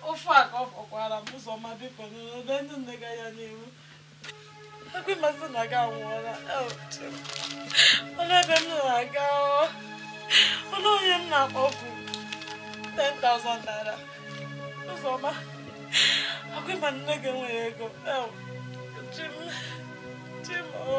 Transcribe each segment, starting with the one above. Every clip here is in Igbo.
ofe a ka ọ fọkwara Ụzọma biko n'ebe ndị nne ga ya n'ihu ekwe masị na gị anwụọla ọnụ ebe m na-aga ọnụ onye m na-akpọpụ 10,000 naira Ụzọma ọkwa ị ma nne gị enweghị ego Chi m Chi m o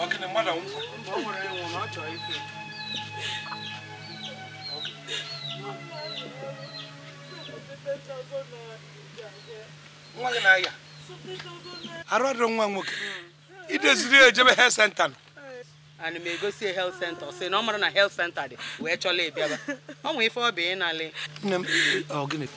ọ gịnị mmadụ nwụkwa ọ nwere ịnwụ na ọ chọrọ ife nwa gị na-aya arụ adịrọ nwa nwoke i duziri ya ejebe health center nụ ana m egosi ya health center ọ sị na ọ marọ na health center dị wee chọla ịbịaba ọ nwee ife ọ bụ ịnalị nne m ọ gịnị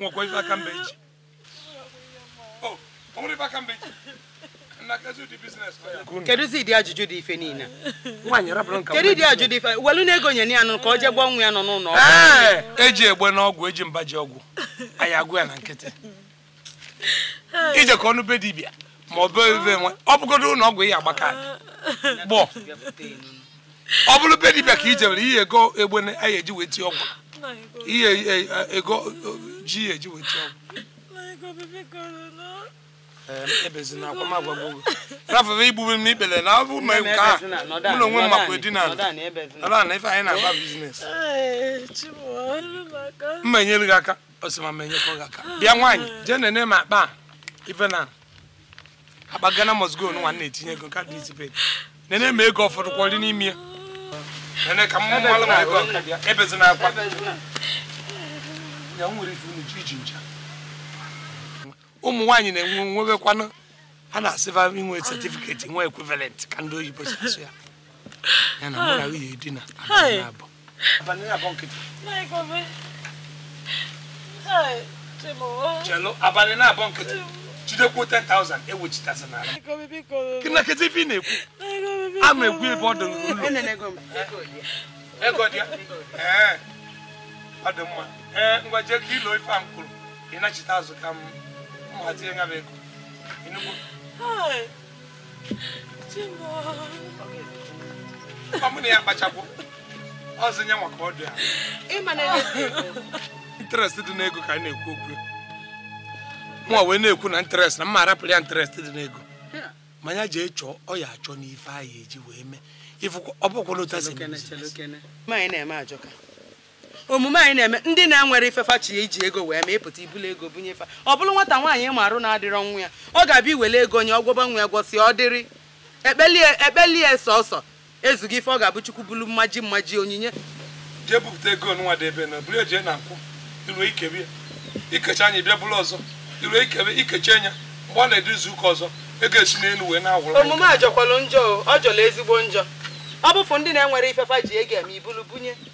nwekwa ife aka m ba eji kedụzi ụdị ajụjụ dị ife niile kedụ ụdị ajụjụ dị ife welu nụ ego nye ya nụ ka ọ jee gwọọ nwa ya nọ n'ụlọ eji egbe n'ọgwụ eji mba ji ọgwụ a ya agwọ ya na nkịtị i jekọ nụ be dibịa ma ọ bụ ebe nwe ọ bụgodu ụlọ ọgwụ ị ya agba aka gbọ ọ bụrụ be dibịa ka i jebere ihe ego egbe anyị eji wee tie ọgwụ ihe e, e, ego ji ya eji wee tie ọgwụ ebezina akwa m agwago gị rafụrụ igbube m n'ikpere na abụ ma nke a mụ na onwe m makwa edina ala na ife anyị na-agba business m ma enyere gị aka ọ sị ma m enyekwa gị aka bịa nwaanyị jee nene m akpa a ife na akpa Ghana must go nwa na-etinye ego kaadị izipet nene ma ego ọ fọdụkwọrị n'ime ya nene ka mụ malụ ma ego ebezina akwa ya nwere ife unu ji iji ncha ụmụ nwaanyị na-enwe nwebekwanụ a na-asịba i nwe certificate nwe equivalent ka ndị oyibo si asụ ya ya na mụ na nwunye di na abụ chelụ abalị naabọ nkịtị jidekwuo 10,000 i wechitazi n'ala gị na kedu ife ị na-ekwu a ma egwu ebe ọ dị n'ụlọ ego dị ya ee ọ dị mma ee ngwa jee ka i loo ife a m kwuru ị nachite azụ ka m hazie ya bụ ego mụ na ya kpachapụ ọzọ nye nwa ka ọ dị ya interest dị n'ego ka a na-ekwu okwu mụ wee na-ekwu na interest na m ma arapụrụ ya interest dị n'ego ma ya jee chọọ ọ ya achọ n'ife anyị eji wee mee ọ bụkwa n'ụta si na-eme ajọka omume anyị na-eme ndị na-enwerọ ife fa chọ iji ego wee mee ị pụta i bulu ego bunye fa ọ bụrụ nwata nwaanyị ma arụ na-adịrọ nwa ya ọ ga-abụ i wele ego nye ọ gwọba nwa ya gwọsịa ọ dịrị ekpelie sọsọ ezigbo ife ọ ga-abụ chukwu bulu mmaji mmaji onyinye jee bupụta ego nwa debe na buru eje na nkwụ i ru i kebe ya i kechaa nya ị bịa bulu ọzọ i ru i kebe i kechaa nya mgbe ọ na-edu izu ụka ọzọ ego esi n'elu wee na-awụrụ omume a jọkwalụ njọ ọ jọlụ ezigbo njọ ọ bụfụ ndị na-enwerọ ife fa ji ego eme i bulu bunye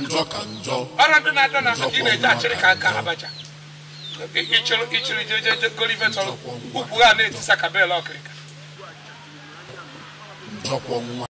njọ ka njọ ọrụ ndị na-adọ na aka ka ị na-eji achịrị ka nka abacha ịchịrị ịchịrị jejeje golive tọrọ ukwu ha na-etisa ka bel ọkịrịka njọkwọ nwa